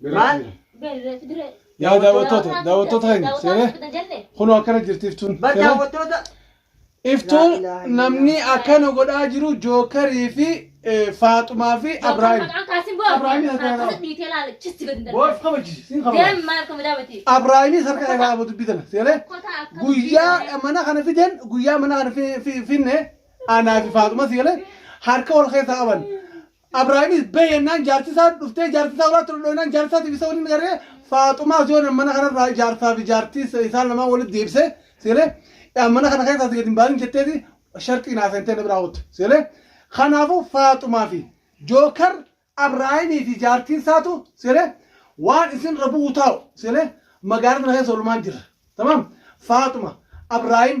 Maal? Yaa daawwattoota, daawwattoota hin seenee. Kunoo akkana jirti iftuun. Bar Seenee. daawwattoota Iftuun Laa ilaaha namni illallah. akkana godhaa jiru Jookarii fi eh, Faaxumaa fi Abraahim. Boorf kabachiisi, siin kabachiisi. Abraahimis harka irraa abu dubbitana. Seenee. Guyyaa mana kana fiden guyyaa mana kana fi- fi- finne anaa fi Faaxuma seenee harka wal keessa qaban. Abraamis bahi jennaan jaarti isaa dhuftee jaarti isaa horaatti dhudhoonaan jaarti isaatiif isa waliin garee faaxumaas yoo nan mana kanarraa jaarsaa fi jaartii isa- isaan lamaan walitti deebisee seelee yaa mana kana keessaa si gadi hin baasin jetteeti sharxii naa seentee na biraa ooltu seelee kanaafuu faaxumaa fi jookar abraahimii fi jaartiin isaatu seelee waan isin irra bu'u taa'u seelee magaalaa sana keessa oolmaan jira tamam faaxuma abraahim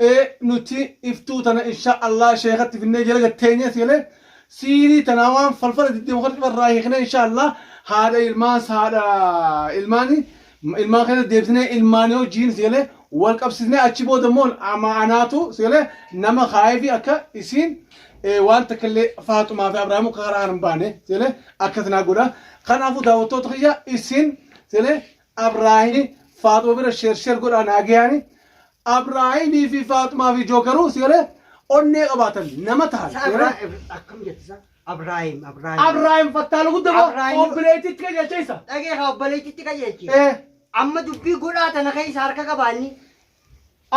Ee nuti iftuu tana inshaa Allah sheekatti finnee jala gad teenyee seenee siirii tanaa waan falfala diddee muka dhibba irraa hiiknee inshaa Allah haadha ilmaas haadha ilmaani ilmaan keessa deebisnee ilmaanii wajjiin seenee wal qabsiisnee achi booda immoo ama anaatu seenee nama kaayee fi akka isiin ee, waan takka illee faaxumaa fi abraamu karaa hin baane seenee akkas naa godha kanaafuu daawwattoota kiyya isin seenee Abrahimi faaxuma bira sheer sheer godhaa naagayaani Abrahimi fi faaxumaa fi jookaruu si galee onnee qabaatan nama tahan. Sa Abra akkam jette sa? Abraahim Abraahim. Abrahim fattaalu gudda ba Abrahim. obbileetti itti qajeelcha isa. Dhagee haa obboleettitti qajeelchi. Eh Amma dubbii godhaa tana keessa harka qabaanni.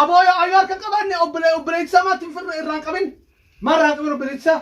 aboo yoo ayyoo harka qabaanne obbilee obbileetti isaa maatti hin firre irraan qabin. Maal irraan qabin obbileetti isaa?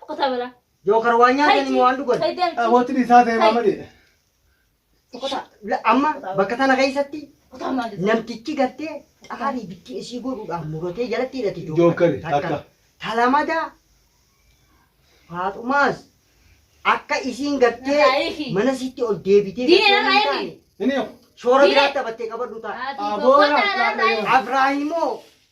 Sokotaa balaa. Jookar waan nyaatanii moo waan dhugan? Sayi deemti. Awooti dhiisaa ta'e maama dheedha. Sokotaa. La- Amma bakka tana keessatti Sokotaa maal jechuudha? namtichi gartee xaarii bittii isii godhuudhaan muratee jalatti hidhate Jookari, takka. Talamadaa Faaxumaas akka isiin gartee Narraayiifi. mana sitti ol deebitee Diinee gartee waan narraayiifi. taane Inni Shoora Diinee. biraa taphattee qabadhu ta'a. Ati Aboo, tokko taanaan raafnaa taa'e. Afraahimoo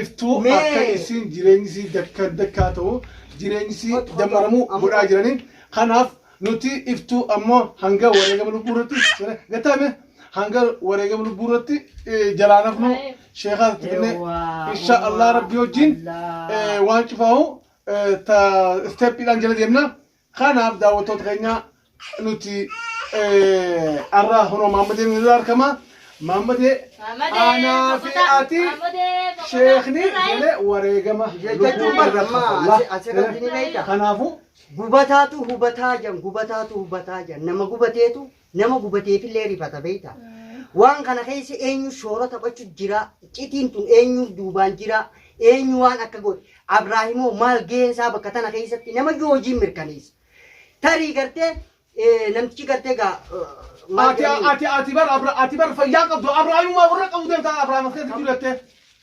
iftuu akka isiin jireenyi isii dakka dakkaa ta'u jireenyi isii dammaramuu godhaa jiranii kanaaf nuti iftuu ammoo hanga wareegama lubbuu irratti gataame hanga wareegama lubbuu irratti jalaan hafnu sheekaa itti finne insha allah rabbii wajjin waan cufaahu ta isteeppiidhaan jala deemna Kanaaf daawwattoota keenya nuti har'a kunoo Maammadeen irra argama. Maammadee aanaa fi ati sheekni jedhee wareegama jechuun barreeffama. Kanaafuu gubataatu hubataa jan gubataatu hubataa jan nama gubateetu Nama gubateefillee rifata beekta. Waan kana keessa eenyu shoora taphachu jira. Citiin tun eenyu duubaan jira. Eenyu waan akka godhe. Abraahimoo maal gaheen isaa bakka tana keessatti nama iyyuu hojiin mirkaneessa. Tarii gartee eh, namtichi gartee gaa eh, maal Ati jedhanii- ati ati bar abra ati bar fayyaa qabdu abraayummaa warra qabu deemta abraayuma keessa jiru jettee.